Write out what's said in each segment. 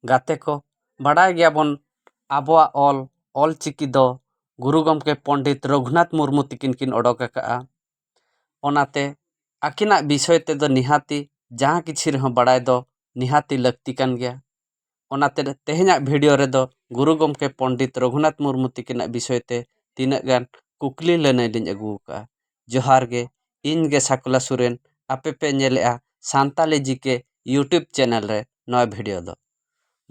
ᱜᱟᱛᱮ ᱠᱚ ᱵᱟᱰᱟᱭ ᱜᱮᱭᱟ ᱵᱚᱱ ᱟᱵᱚᱣᱟᱜ ᱚᱞ ᱚᱞ ᱪᱤᱠᱤ ᱫᱚ ᱜᱩᱨᱩ ᱜᱚᱢᱠᱮ ᱯᱚᱱᱰᱤᱛ ᱨᱟᱹᱜᱷᱩᱱᱟᱛᱷ ᱢᱩᱨᱢᱩ ᱛᱟᱹᱠᱤᱱ ᱠᱤᱱ ᱚᱰᱚᱠ ᱟᱠᱟᱫᱼᱟ ᱚᱱᱟᱛᱮ ᱟᱹᱠᱤᱱᱟᱜ ᱵᱤᱥᱚᱭ ᱛᱮᱫᱚ ᱱᱤᱦᱟᱹᱛᱤ ᱡᱟᱦᱟᱸ ᱠᱤᱪᱷᱩ ᱨᱮᱦᱚᱸ ᱵᱟᱲᱟᱭ ᱫᱚ ᱱᱤᱦᱟᱹᱛᱤ ᱞᱟᱹᱠᱛᱤ ᱠᱟᱱ ᱜᱮᱭᱟ ᱚᱱᱟᱛᱮ ᱛᱮᱦᱮᱧᱟᱜ ᱵᱷᱤᱰᱤᱭᱳ ᱨᱮᱫᱚ ᱜᱩᱨᱩ ᱜᱚᱢᱠᱮ ᱯᱚᱱᱰᱤᱛ ᱨᱟᱹᱜᱷᱩᱱᱟᱛᱷ ᱢᱩᱨᱢᱩ ᱛᱟᱹᱠᱤᱱᱟᱜ ᱵᱤᱥᱚᱭ ᱛᱮ ᱛᱤᱱᱟᱹᱜ ᱜᱟᱱ ᱠᱩᱠᱞᱤ ᱞᱟᱹᱱᱟᱹᱭ ᱞᱤᱧ ᱟᱹᱜᱩ ᱟᱠᱟᱫᱼᱟ ᱡᱚᱦᱟᱨ ᱜᱮ ᱤᱧ ᱜᱮ ᱥᱟᱠᱞᱟ ᱥᱚᱨᱮᱱ ᱟᱯᱮ ᱯᱮ ᱧᱮᱞᱮᱫᱼᱟ ᱥᱟᱱᱛᱟᱲᱤ ᱡᱤ ᱠᱮ ᱤᱭᱩᱴᱩᱵᱽ ᱪᱮᱱᱮᱞ ᱨᱮ ᱱᱚᱣᱟ ᱵᱷᱤᱰᱤᱭᱳ ᱫᱚ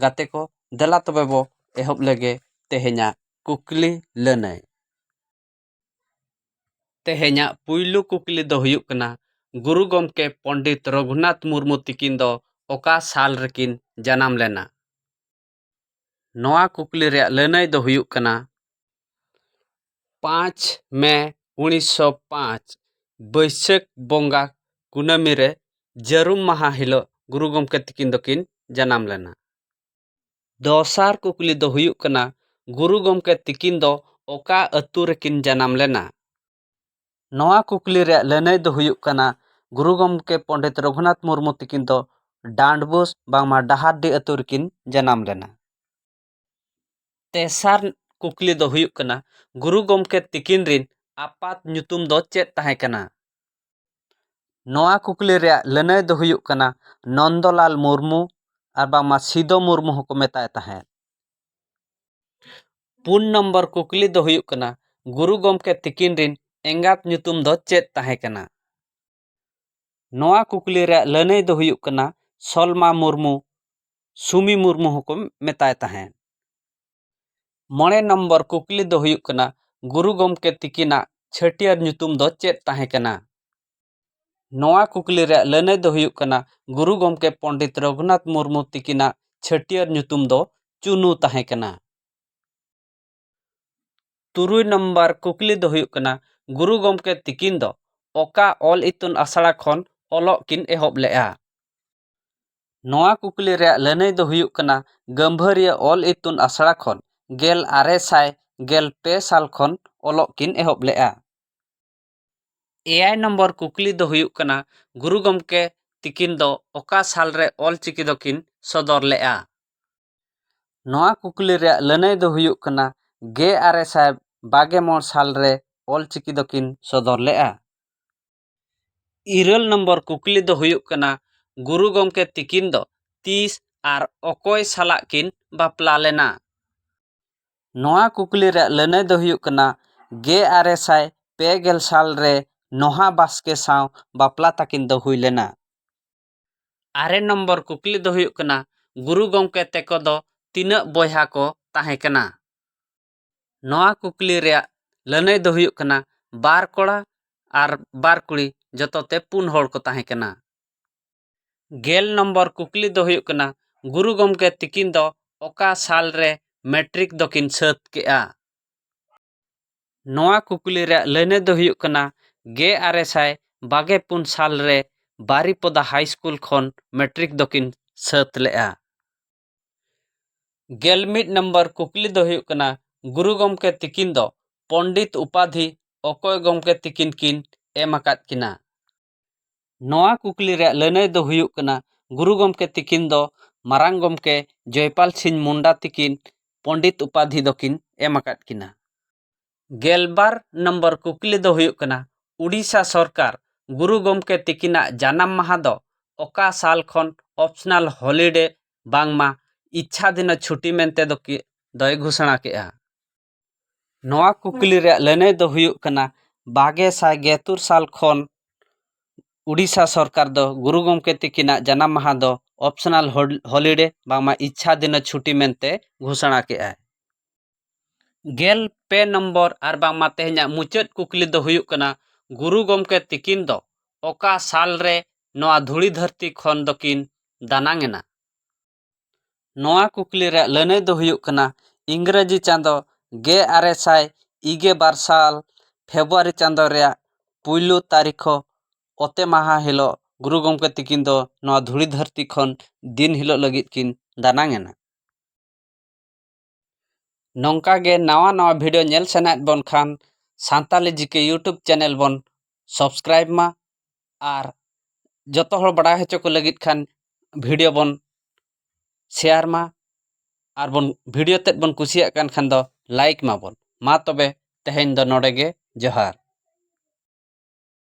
ᱜᱟᱛᱮ ᱠᱚ ᱫᱮᱞᱟ ᱛᱚᱵᱮ ᱵᱚᱱ ᱮᱦᱚᱵ ᱞᱮᱜᱮ ᱛᱮᱦᱮᱧᱟᱜ ᱠᱩᱠᱞᱤ ᱞᱟᱹᱱᱟᱹᱭ ᱛᱮᱦᱮᱧᱟᱜ ᱯᱩᱭᱞᱩ ᱠᱩᱠᱞᱤ ᱫᱚ ᱦᱩᱭᱩᱜ ᱠᱟᱱᱟ ᱜᱩᱨᱩ ᱜᱚᱢᱠᱮ ᱯᱚᱱᱰᱤᱛ ᱨᱚᱜᱷᱩᱱᱟᱛᱷ ᱢᱩᱨᱢᱩ ᱛᱤᱠᱤᱱ ᱫᱚ ᱚᱠᱟ ᱥᱟᱞ ᱨᱮᱠᱤᱱ ᱡᱟᱱᱟᱢ ᱞᱮᱱᱟ ᱱᱚᱣᱟ ᱠᱩᱠᱞᱤ ᱨᱮᱭᱟᱜ ᱞᱟᱹᱱᱟᱹᱭ ᱫᱚ ᱦᱩᱭᱩᱜ ᱠᱟᱱᱟ ᱯᱟᱸᱪ ᱢᱮ ᱩᱱᱤᱥᱥᱚ ᱯᱟᱸᱪ ᱵᱟᱹᱭᱥᱟᱹᱠᱷ ᱵᱚᱸᱜᱟ ᱠᱩᱱᱟᱹᱢᱤ ᱨᱮ ᱡᱟᱹᱨᱩᱢ ᱢᱟᱦᱟ ᱦᱤᱞᱳᱜ ᱜᱩᱨᱩ ᱜᱚᱢᱠᱮ ᱛᱟᱹᱠᱤᱱ ᱫᱚᱠᱤᱱ ᱡᱟᱱᱟᱢ ᱞᱮᱱᱟ ᱫᱚᱥᱟᱨ ᱠᱩᱠᱞᱤ ᱫᱚ ᱦᱩᱭᱩᱜ ᱠᱟᱱᱟ ᱜᱩᱨᱩ ᱜᱚᱢᱠᱮ ᱛᱟᱹᱠᱤᱱ ᱫᱚ ᱚᱠᱟ ᱟᱹᱛᱩ ᱨᱮᱠᱤᱱ ᱡᱟᱱᱟᱢ ᱞᱮᱱᱟ ᱱᱚᱣᱟ ᱠᱩᱠᱞᱤ ᱨᱮᱭᱟᱜ ᱞᱟᱹᱱᱟᱹᱭ ᱫᱚ ᱦᱩᱭᱩᱜ ᱠᱟᱱᱟ ᱜᱩᱨᱩ ᱜᱚᱢᱠᱮ ᱯᱚᱱᱰᱤᱛ ᱨᱚᱜᱷᱩᱱᱟᱛᱷ ᱢᱩᱨᱢᱩ ᱛᱟᱹᱠᱤᱱ ᱫᱚ ᱰᱟᱸᱰᱵᱳᱥ ᱵᱟᱝᱢᱟ ᱰᱟᱦᱟᱨᱰᱤ ᱟᱹᱛᱩ ᱨᱮᱠᱤᱱ ᱡᱟᱱᱟᱢ ᱞᱮᱱᱟ ᱛᱮᱥᱟᱨ ᱠᱩᱠᱞᱤ ᱫᱚ ᱦᱩᱭᱩᱜ ᱠᱟᱱᱟ ᱜᱩᱨᱩ ᱜᱚᱢᱠᱮ ᱛᱟᱹᱠᱤᱱ ᱨᱤᱱ ᱟᱯᱟᱛ ᱧᱩᱛᱩᱢ ᱫᱚ ᱪᱮᱫ ᱛᱟᱦᱮᱸ ᱠᱟᱱᱟ ᱱᱚᱣᱟ ᱠᱩᱠᱞᱤ ᱨᱮᱭᱟᱜ ᱞᱟᱹᱱᱟᱹᱭ ᱫᱚ ᱦᱩᱭᱩᱜ ᱠᱟᱱᱟ ᱱᱚᱱᱫᱚᱞᱟᱞ ᱢᱩᱨᱢᱩ ᱟᱨ ᱵᱟᱝᱢᱟ ᱥᱤᱫᱚ ᱢᱩᱨᱢᱩ ᱦᱚᱸᱠᱚ ᱢᱮᱛᱟᱭ ᱛᱟᱦᱮᱸᱫ ᱯᱩᱱ ᱱᱚᱢᱵᱚᱨ ᱠᱩᱠᱞᱤ ᱫᱚ ᱦᱩᱭᱩᱜ ᱠᱟᱱᱟ ᱜᱩᱨᱩ ᱜᱚᱢᱠᱮ ᱛᱤᱠᱤᱱ ᱨᱤᱱ ᱮᱸᱜᱟᱛ ᱧᱩᱛᱩᱢ ᱫᱚ ᱪᱮᱫ ᱛᱟᱦᱮᱸ ᱠᱟᱱᱟ ᱱᱚᱣᱟ ᱠᱩᱠᱞᱤ ᱨᱮᱭᱟᱜ ᱞᱟᱹᱱᱟᱹᱭ ᱫᱚ ᱦᱩᱭᱩᱜ ᱠᱟᱱᱟ ᱥᱚᱞᱢᱟ ᱢᱩᱨᱢᱩ ᱥᱩᱢᱤ ᱢᱩᱨᱢᱩ ᱦᱚᱸᱠᱚ ᱢᱮᱛᱟᱭ ᱛᱟᱦᱮᱸᱫ ᱢᱚᱬᱮ ᱱᱚᱢᱵᱚᱨ ᱠᱩᱠᱞᱤ ᱫᱚ ᱦᱩᱭᱩᱜ ᱠᱟᱱᱟ ᱜᱩᱨᱩ ᱜᱚᱢᱠᱮ ᱛᱤᱠᱤᱱᱟᱜ ᱪᱷᱟᱹᱴᱭᱟᱹᱨ ᱧᱩᱛᱩᱢ ᱫᱚ ᱪᱮᱫ ᱛᱟᱦᱮᱸ ᱠᱟᱱᱟ ᱱᱚᱣᱟ ᱠᱩᱠᱞᱤ ᱨᱮᱭᱟᱜ ᱞᱟᱹᱱᱟᱹᱭ ᱫᱚ ᱦᱩᱭᱩᱜ ᱠᱟᱱᱟ ᱜᱩᱨᱩ ᱜᱚᱢᱠᱮ ᱯᱚᱱᱰᱤᱛ ᱨᱚᱜᱷᱩᱱᱟᱛᱷ ᱢᱩᱨᱢᱩ ᱛᱤᱠᱤᱱᱟᱜ ᱪᱷᱟᱹᱴᱭᱟᱹᱨ ᱧᱩᱛᱩᱢ ᱫᱚ ᱪᱩᱱᱩ ᱛᱟᱦᱮᱸ ᱠᱟᱱᱟ᱾ ᱛᱩᱨᱩᱭ ᱱᱚᱢᱵᱚᱨ ᱠᱩᱠᱞᱤ ᱫᱚ ᱦᱩᱭᱩᱜ ᱠᱟᱱᱟ ᱜᱩᱨᱩ ᱜᱚᱢᱠᱮ ᱛᱤᱠᱤᱱ ᱫᱚ ᱚᱠᱟ ᱚᱞ ᱤᱛᱩᱱ ᱟᱥᱲᱟ ᱠᱷᱚᱱ ᱚᱞᱚᱜ ᱠᱤᱱ ᱮᱦᱚᱵ ᱞᱮᱫᱼᱟ? ᱱᱚᱣᱟ ᱠᱩᱠᱞᱤ ᱨᱮᱭᱟᱜ ᱞᱟᱹᱱᱟᱹᱭ ᱫᱚ ᱦᱩᱭᱩᱜ ᱠᱟᱱᱟ ᱜᱟᱹᱢᱵᱷᱟᱹᱨᱤᱭᱟᱹ ᱚᱞ ᱤᱛᱩᱱ ᱟᱥᱲᱟ ᱠᱷᱚᱱ ᱜᱮᱞ ᱟᱨᱮ ᱥᱟᱭ ᱜᱮᱞ ᱯᱮ ᱥᱟᱞ ᱠᱷᱚᱱ ᱚᱞᱚᱜ ᱠᱤᱱ ᱮᱦᱚᱵ ᱞᱮᱫᱼᱟ᱾ ᱮᱭᱟᱭ ᱱᱚᱢᱵᱚᱨ ᱠᱩᱠᱞᱤ ᱫᱚ ᱦᱩᱭᱩᱜ ᱠᱟᱱᱟ ᱜᱩᱨᱩ ᱜᱚᱢᱠᱮ ᱛᱤᱠᱤᱱ ᱫᱚ ᱚᱠᱟ ᱥᱟᱞ ᱨᱮ ᱚᱞ ᱪᱤᱠᱤ ᱫᱚᱠᱤᱱ ᱥᱚᱫᱚᱨ ᱞᱮᱫᱼᱟ ᱱᱚᱣᱟ ᱠᱩᱠᱞᱤ ᱨᱮᱭᱟᱜ ᱞᱟᱹᱱᱟᱹᱭ ᱫᱚ ᱦᱩᱭᱩᱜ ᱠᱟᱱᱟ ᱜᱮ ᱟᱨᱮ ᱥᱟᱭ ᱵᱟᱜᱮ ᱢᱚᱬ ᱥᱟᱞ ᱨᱮ ᱚᱞ ᱪᱤᱠᱤ ᱫᱚᱠᱤᱱ ᱥᱚᱫᱚᱨ ᱞᱮᱫᱼᱟ ᱤᱨᱟᱹᱞ ᱱᱚᱢᱵᱚᱨ ᱠᱩᱠᱞᱤ ᱫᱚ ᱦᱩᱭᱩᱜ ᱠᱟᱱᱟ ᱜᱩᱨᱩ ᱜᱚᱢᱠᱮ ᱛᱤᱠᱤᱱ ᱫᱚ ᱛᱤᱥ ᱟᱨ ᱚᱠᱚᱭ ᱥᱟᱞᱟᱜ ᱠᱤᱱ ᱵᱟᱯᱞᱟ ᱞᱮᱱᱟ ᱱᱚᱣᱟ ᱠᱩᱠᱞᱤ ᱨᱮᱭᱟᱜ ᱞᱟᱹᱱᱟᱹᱭ ᱫᱚ ᱦᱩᱭᱩᱜ ᱠᱟᱱᱟ ᱜᱮ ᱟᱨᱮ ᱥᱟᱭ ᱯᱮ ᱜᱮᱞ ᱥᱟᱞ ᱨᱮ ᱱᱚᱦᱟ ᱵᱟᱥᱠᱮ ᱥᱟᱶ ᱵᱟᱯᱞᱟ ᱛᱟᱹᱠᱤᱱ ᱫᱚ ᱦᱩᱭ ᱞᱮᱱᱟ ᱟᱨᱮ ᱱᱚᱢᱵᱚᱨ ᱠᱩᱠᱞᱤ ᱫᱚ ᱦᱩᱭᱩᱜ ᱠᱟᱱᱟ ᱜᱩᱨᱩ ᱜᱚᱢᱠᱮ ᱛᱮᱠᱚ ᱫᱚ ᱛᱤᱱᱟᱹᱜ ᱵᱚᱭᱦᱟ ᱠᱚ ᱛᱟᱦᱮᱸ ᱠᱟᱱᱟ ᱱᱚᱣᱟ ᱠᱩᱠᱞᱤ ᱨᱮᱭᱟᱜ ᱞᱟᱹᱱᱟᱹᱭ ᱫᱚ ᱦᱩᱭᱩᱜ ᱠᱟᱱᱟ ᱵᱟᱨ ᱠᱚᱲᱟ ᱟᱨ ᱵᱟᱨ ᱠᱩᱲᱤ ᱡᱚᱛᱚ ᱛᱮ ᱯᱩᱱ ᱦᱚᱲ ᱠᱚ ᱛᱟᱦᱮᱸ ᱠᱟᱱᱟ ᱜᱮᱞ ᱱᱚᱢᱵᱚᱨ ᱠᱩᱠᱞᱤ ᱫᱚ ᱦᱩᱭᱩᱜ ᱠᱟᱱᱟ ᱜᱩᱨᱩ ᱜᱚᱢᱠᱮ ᱛᱤᱠᱤᱱ ᱫᱚ ᱚᱠᱟ ᱥᱟᱞ ᱨᱮ ᱢᱮᱴᱨᱤᱠ ᱫᱚᱠᱤᱱ ᱥᱟᱹᱛ ᱠᱮᱜᱼᱟ ᱱᱚᱣᱟ ᱠᱩᱠᱞᱤ ᱨᱮᱭᱟᱜ ᱞᱟᱹᱱᱟᱹᱭ ᱫᱚ ᱦᱩᱭᱩᱜ ᱠᱟᱱᱟ ᱜᱮ ᱟᱨᱮ ᱥᱟᱭ ᱵᱟᱜᱮ ᱯᱩᱱ ᱥᱟᱞ ᱨᱮ ᱵᱟᱨᱤᱯᱚᱫᱟ ᱦᱟᱭ ᱥᱠᱩᱞ ᱠᱷᱚᱱ ᱢᱮᱴᱨᱤᱠ ᱫᱚᱠᱤᱱ ᱥᱟᱹᱛ ᱞᱮᱜᱼᱟ ᱜᱮᱞ ᱢᱤᱫ ᱱᱚᱢᱵᱚᱨ ᱠᱩᱠᱞᱤ ᱫᱚ ᱦᱩᱭᱩᱜ ᱠᱟᱱᱟ ᱜᱩᱨᱩ ᱜᱚᱢᱠᱮ ᱛᱤᱠᱤᱱ ᱫᱚ ᱯᱚᱱᱰᱤᱛ ᱩᱯᱟᱫᱷᱤ ᱚᱠᱚᱭ ᱜᱚᱢᱠᱮ ᱛᱤᱠᱤᱱ ᱠᱤᱱ ᱮᱢ ᱟᱠᱟᱫ ᱠᱤᱱᱟ ᱱᱚᱣᱟ ᱠᱩᱠᱞᱤ ᱨᱮᱭᱟᱜ ᱞᱟᱹᱱᱟᱹᱭ ᱫᱚ ᱦᱩᱭᱩᱜ ᱠᱟᱱᱟ ᱜᱩᱨᱩ ᱜᱚᱢᱠᱮ ᱛᱤᱠᱤᱱ ᱫᱚ ᱢᱟᱨᱟᱝ ᱜᱚᱢᱠᱮ ᱡᱚᱭᱯᱟᱞ ᱥᱤᱝ ᱢᱩᱱᱰᱟ ᱛᱤᱠᱤᱱ ᱯᱚᱱᱰᱤᱛ ᱩᱯᱟᱫᱷᱤ ᱫᱚᱠᱤᱱ ᱮᱢ ᱟᱠᱟᱫ ᱠᱤᱱᱟ᱾ ᱜᱮᱞ ᱵᱟᱨ ᱱᱚᱢᱵᱚᱨ ᱠᱩᱠᱞᱤ ᱫᱚ ᱦᱩᱭᱩᱜ ᱠᱟᱱᱟ ᱩᱰᱤᱥᱟ ᱥᱚᱨᱠᱟᱨ ᱜᱩᱨᱩ ᱜᱚᱢᱠᱮ ᱛᱤᱠᱤᱱᱟᱜ ᱡᱟᱱᱟᱢ ᱢᱟᱦᱟ ᱫᱚ ᱚᱠᱟ ᱥᱟᱞ ᱠᱷᱚᱱ ᱚᱯᱥᱱᱟᱞ ᱦᱚᱞᱤᱰᱮ ᱵᱟᱝᱢᱟ ᱤᱪᱪᱷᱟᱫᱷᱤᱱᱚ ᱪᱷᱩᱴᱤ ᱢᱮᱱᱛᱮ ᱫᱚᱭ ᱜᱷᱳᱥᱚᱬᱟ ᱠᱮᱫᱼᱟ᱾ ᱱᱚᱣᱟ ᱠᱩᱠᱞᱤ ᱨᱮᱭᱟᱜ ᱞᱟᱹᱱᱟᱹᱭ ᱫᱚ ᱦᱩᱭᱩᱜ ᱠᱟᱱᱟ ᱵᱟᱜᱮ ᱥᱟᱭ ᱜᱮ ᱛᱩᱨ ᱥᱟᱞ ᱠᱷᱚᱱ ᱩᱰᱤᱥᱟ ᱥᱚᱨᱠᱟᱨ ᱫᱚ ᱜᱩᱨᱩ ᱜᱚᱢᱠᱮ ᱛᱤᱠᱤᱱᱟᱜ ᱡᱟᱱᱟᱢ ᱢᱟᱦᱟ ᱫᱚ ᱚᱯᱥᱚᱱᱟᱞ ᱦᱚᱞᱤᱰᱮ ᱵᱟᱝᱢᱟ ᱤᱪᱪᱷᱟ ᱫᱤᱱᱚ ᱪᱷᱩᱴᱤ ᱢᱮᱱᱛᱮ ᱜᱷᱳᱥᱚᱱᱟ ᱠᱮᱫᱼᱟᱭ ᱜᱮᱞ ᱯᱮ ᱱᱚᱢᱵᱚᱨ ᱟᱨ ᱵᱟᱝᱢᱟ ᱛᱮᱦᱮᱧᱟᱜ ᱢᱩᱪᱟᱹᱫ ᱠᱩᱠᱞᱤ ᱫᱚ ᱦᱩᱭᱩᱜ ᱠᱟᱱᱟ ᱜᱩᱨᱩ ᱜᱚᱢᱠᱮ ᱛᱤᱠᱤᱱ ᱫᱚ ᱚᱠᱟ ᱥᱟᱞ ᱨᱮ ᱱᱚᱣᱟ ᱫᱷᱩᱲᱤ ᱫᱷᱟᱹᱨᱛᱤ ᱠᱷᱚᱱ ᱫᱚᱠᱤᱱ ᱫᱟᱱᱟᱝ ᱮᱱᱟ ᱱᱚᱣᱟ ᱠᱩᱠᱞᱤ ᱨᱮᱭᱟᱜ ᱞᱟᱹᱱᱟᱹᱭ ᱫᱚ ᱦᱩᱭᱩᱜ ᱠᱟᱱᱟ ᱤᱝᱨᱟᱹᱡᱤ ᱪᱟᱸᱫᱚ ᱜᱮ ᱟᱨᱮ ᱥᱟᱭ ᱤᱜᱮ ᱵᱟᱨ ᱥᱟᱞ ᱯᱷᱮᱵᱽᱨᱩᱣᱟᱨᱤ ᱪᱟᱸᱫᱚ ᱨᱮᱭᱟᱜ ᱯᱩᱭᱞᱩ ᱛᱟᱹᱨᱤᱠᱷ ᱚᱛᱮ ᱢᱟᱦᱟ ᱦᱤᱞᱳᱜ ᱜᱩᱨᱩ ᱜᱚᱢᱠᱮ ᱛᱟᱹᱠᱤᱱ ᱫᱚ ᱱᱚᱣᱟ ᱫᱷᱩᱲᱤ ᱫᱷᱟᱹᱨᱛᱤ ᱠᱷᱚᱱ ᱫᱤᱱ ᱦᱤᱞᱳᱜ ᱞᱟᱹᱜᱤᱫ ᱠᱤᱱ ᱫᱟᱱᱟᱝ ᱮᱱᱟ ᱱᱚᱝᱠᱟ ᱜᱮ ᱱᱟᱣᱟ ᱱᱟᱣᱟ ᱵᱷᱤᱰᱤᱭᱳ ᱧᱮᱞ ᱥᱟᱱᱟᱭᱮᱫ ᱵᱚᱱ ᱠᱷᱟᱱ ᱥᱟᱱᱛᱟᱞᱤ ᱡᱤᱠᱮ ᱤᱭᱩᱴᱩᱵᱽ ᱪᱮᱱᱮᱞ ᱵᱚᱱ ᱥᱟᱵᱥᱠᱨᱟᱭᱤᱵᱽ ᱢᱟ ᱟᱨ ᱡᱚᱛᱚ ᱦᱚᱲ ᱵᱟᱲᱟᱭ ᱦᱚᱪᱚ ᱠᱚ ᱞᱟᱹᱜᱤᱫ ᱠᱷᱟᱱ ᱵᱷᱤᱰᱤᱭᱳ ᱵᱚᱱ ᱥᱮᱭᱟᱨ ᱢᱟ ᱟᱨ ᱵᱚᱱ ᱵᱷᱤᱰᱤᱭᱳ ᱛᱮᱫ ᱵᱚᱱ ᱠᱩᱥᱤᱭᱟᱜ ᱠᱟᱱ ᱠᱷᱟᱱ ᱫᱚ ᱞᱟᱭᱤᱠ ᱢᱟᱵᱚᱱ ᱢᱟ ᱛᱚᱵᱮ ᱛᱮᱦᱮᱧ ᱫᱚ ᱱᱚᱰᱮ ᱜᱮ ᱡᱚᱦᱟᱨ